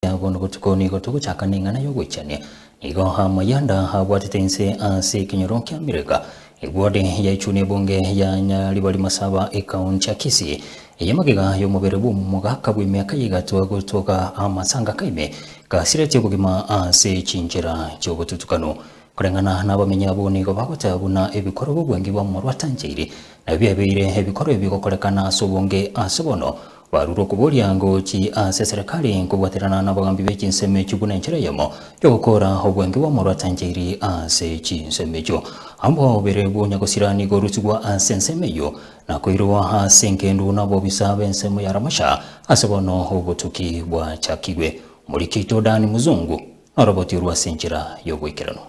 Ekiagera bono botuko nigo togochaka neng'ana y'ogoichania, nigo amayanda abwatete inse ase ekenyoro kia Amerika. Egwode yaechwa n'ebunge ya Nyaribari-Masaba ekaunti ya Kisii, eye magega y'omobere bw'omogaka bw'emiaka ya egatwa gotoka amasanga kaime gasireti obogima ase chinchera chi'obotutukanu. Koreng'ana nabamenyi abwo nigo bagoteba buna ebikoro bobwangi bwa omorwatanchairi nabio biabeire ebikoro ebigokorekana ase obonge ase bono, Barure okoboria ngochi ase eserekari nkobwaterana nabagambi be chinsemo echio buna enchera eyemo y'ogokoora obwenge bw'omorwa atanchairi ase chinsemo echio. Amba obere bw'onya gosira nigo orusigwa ase ensemo eyio, na koirwa ase engendu nabobisa b'ensemo ya Ramasha ase bono obotuki bwachakigwe. Omorikito Dan Muzungu noroboti orwo ase enchera y'ogoikeranu.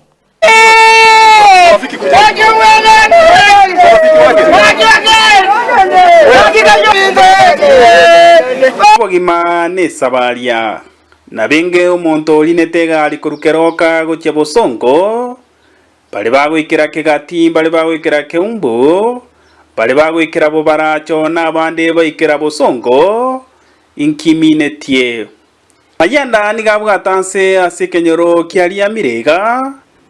Obogima nesabaria. Nabenge omonto orinete egari korwa keroka gochia bosongo, bare bagoikera kegati, bare bagoikera keumbu, bare bagoikera bobaracho, na abande baikera bosongo, inkiminetie. Mayanda nigo abwate anse ase ekenyoro kia riamire iga,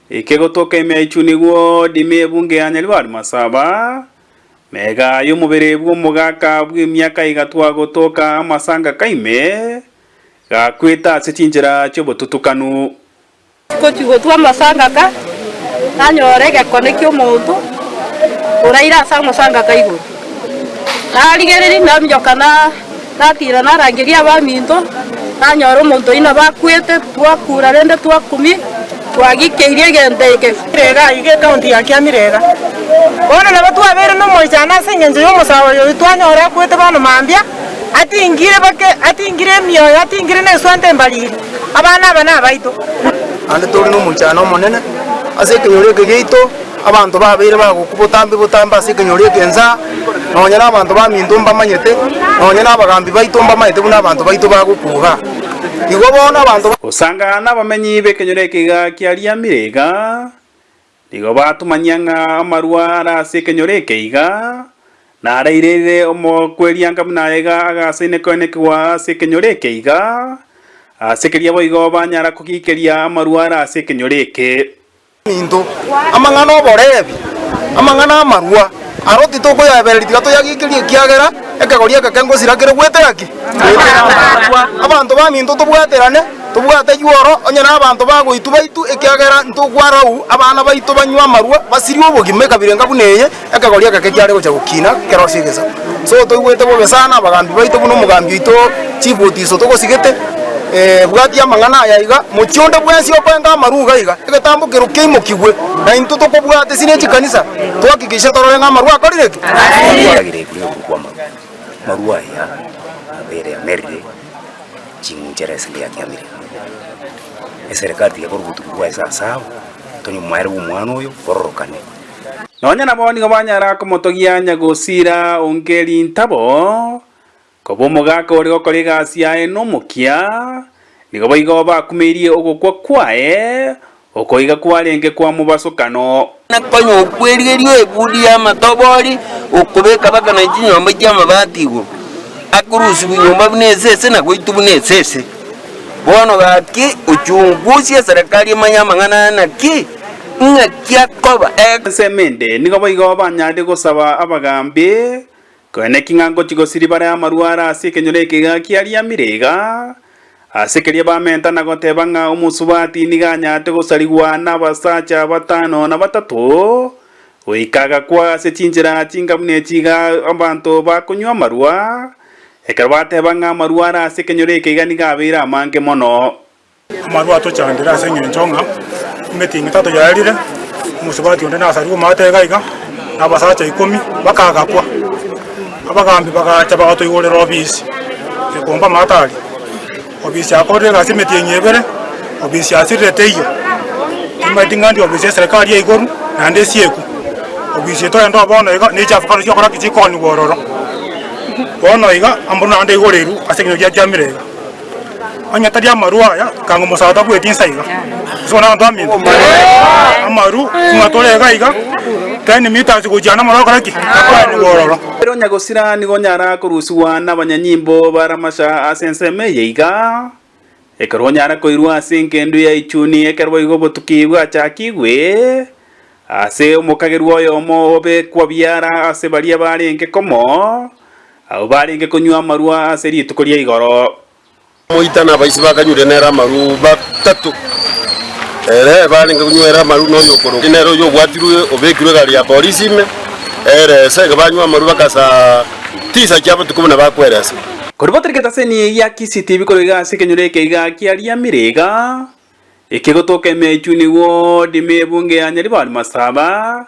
ekegotoka emia echu nigo dime ebunge ya nyaribari masaba, mega y'omobere bw'omogaka bw'emiaka igatwa gotoka amasangaka ime, gakwete ase chinchera chi'obotutukanu Ngochia gotwa amasangaka, nanyora egekone ki'omonto oraire ase amasangaka igoro. Narigereria naminyoka natiira narangeria abaminto, nanyora omonto oyio nabo akwete, twakura rende twakumia, twagikeirie egento eke. Mirega aiga ecounty ya Kiamirega. Bono nabo twabeire nomoichano ase engencho y'omosabari oyio twanyora akwete bono mambia, atingire bake atingire emioyo atingire neswante embariri. Abana aba nabaito. Naende tori nomonchano omonene ase ekenyoro eke giaito, abanto babeire bagoku botambe botambe ase ekenyoro eke ensa, nonya nabanto baminto mbamanyete, nonya nabagaambi baito mbamanyete buna abanto baito bagoku iga. Igo bono abanto. Gosangana nabamenyi b'ekenyoro eke iga kiariamire iga, Nigo batomanyia ng'a amarua are ase ekenyoro eke iga naraireire omokwerianka buna aye iga agasaine koene kigwa ase ekenyoro eke iga, ase keria boigo banyara kogiikeria amarua are ase ekenyoro eke. Amanto, amang'ana 'oborebi, amang'ana 'amarua. Aro titokoyaebereri tiga toyageikerie ekiagera ekegori eke kengosira kere gwetera ki? Gwetera amaakwa. Abanto baminto tobwaterane, tobwate yuoro onye nabanto bagoitwa baitu ekiagera ntokwarau abana baito banywe amarwa basirie obogima ekabira enga buna eye ekegori egeke kiare gocha gokina kerosio egesaku. So toigwete bobe sana abagambi baito buna omogambi oito Chiboti iso togosigete, bwatia amang'ana aya iga, mochie onde bwensi okoenga amarua iga iga, egetambo kerwa keimokigwe, na intwe tokobwate sini echikanisa, twakikishe torore ng'a amarua akorire ki? Twaragire igure igoro kw'amarua. Amarua aya nabere amerire ching'inchera ase ndiyatiamire. Eserekari tiga ekore obotugi bwaye ase asabo, tonywe moere bw'omwana oyo bororokane. Nonya nabo nigo banyara komotogia anya gosiira onge rintabo. Koba omogaka ore gokora egasi yaye nomokia, nigo boigo bakumeirie ogokwa kwaye, okoiga kwarenge kwa mobasokano. Na konya okwerigeria ebudi y'amatobori, okobeka baka na chinyomba chi'amabati igoro, akorusia bwenyomba buna esese na goitwa buna esese. Bono gaki, ochungusie eserekari omanye amang'ana aya naki, ng'aki akoba, eg. Ensemo ende nigo boigo banyarire gosaba abagaambi, Koene ki ng'a ngochia gosiribara amarwaro ase ekenyoro eke gaki ariamire iga? Ase keria bamenta na goteba ng'a omosubati nigo anyarete gosarigwa nabasacha batano na batato, goika agakwa ase chinchera chinga buna echi iga abanto bakonywa amarwa, ekero bateba ng'a amarwaro ase ekenyoro eke iga nigo abeire amange mono. Amarwa atochandire ase engencho ng'a emetinga etato yaerire, omosubati onde nasarigwe omate iga iga, na abasacha ikomi bakagakwa. Abagaambi bagacha bagatoigorera obisi ekomba amate aria. Obisi akorire egasi emetienyi ebere, obisi asirirete eyio, timanyeti ng'anti obisi eserekari ya igoro naende esieku. Obisi etoende oo bono iga ne echafu kare chiokora ki chikonyigwa ororo. Bono iga, ambu naende aigoreirwe ase ekinyoro giatiamire iga. Onye tari amarwa aya, kanga omosacha tabueti insa iga. Ase bono abanto baminto amaru buna tore iga iga, ten metres gochia namoro okore ki? Akoenigwa ororo. Ere onya gosira nigo onyara korusigwa nabanyanyimbo ba Ramasha ase ensemo eye iga, ekero onyara koirwa ase engendu ya Ichuni ekero boigo obotuki bwachakigwe, ase omokagerwa oyomo obe kwabiyara ase baria barenge komo, Abwo barenge konywa amarua ase rituko ria igoro. Moita na abaise bakanywire nere amarua batato. Ere barenge konywa ere amarua noyo okorokwa nere oyio obwatirwe obekirwe egari ya polisi ime ere esa iga banywa amarua bagasa tisa chia botuko buna bakwera esa. Koribotera egetaseni gia CCTV korwa iga ase ekenyoro eke iga kiariamire iga ekegotoka emechunigwa odime ebunge ya Nyaribari Masaba